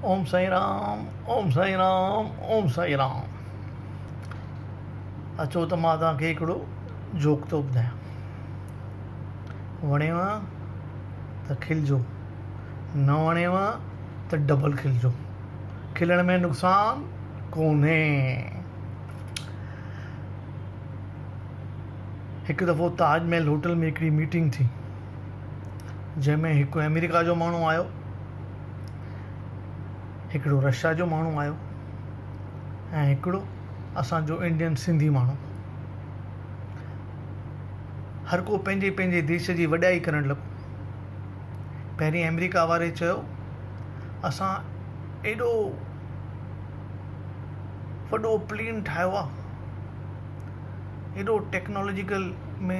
اوم سائين رام اوم سائين رام اوم سائين رام اچو ته مان توهان کي هڪڙو جوڪ ٿو ٻڌايان وڻيو ته کلجو نه وڻيو ته ڊبل کلجو کلڻ ۾ نقصان ڪونهي هڪ دفعو تاج محل هوٽل ۾ هڪڙي ميٽنگ ٿي جنهن ۾ هڪ آمريڪا جو ماڻهو آيو هڪڙو رشيا جو ماڻهو آيو ۽ هڪڙو اسانجو انڊين سنڌي ماڻهو هر ڪو پنهنجي پنهنجي ديش جي وڏائي ڪرڻ لڳو پهرين آمريڪا واري چيو اسان ايڏو وڏو پلين ٺاهيو آهي ايڏو ٽيڪنالاجيڪل ۾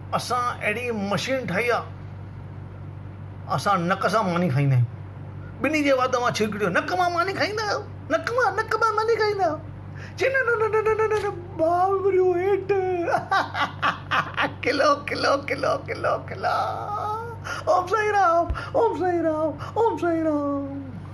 اسان اهڙي مشين ٺاهي آ اسان نڪ سان ماني کائيندا آهيون ٻني جي وات مان ڇرڪ ٺيو نڪ مان ماني کائيندا آهيو نڪ مان نڪ مان ماني کائيندا آهيو چي نه نه نه نه نه ٻار وريو هيٺ کلو کلو کلو کلو کلا اوم سائين رام اوم سائين رام اوم سائين رام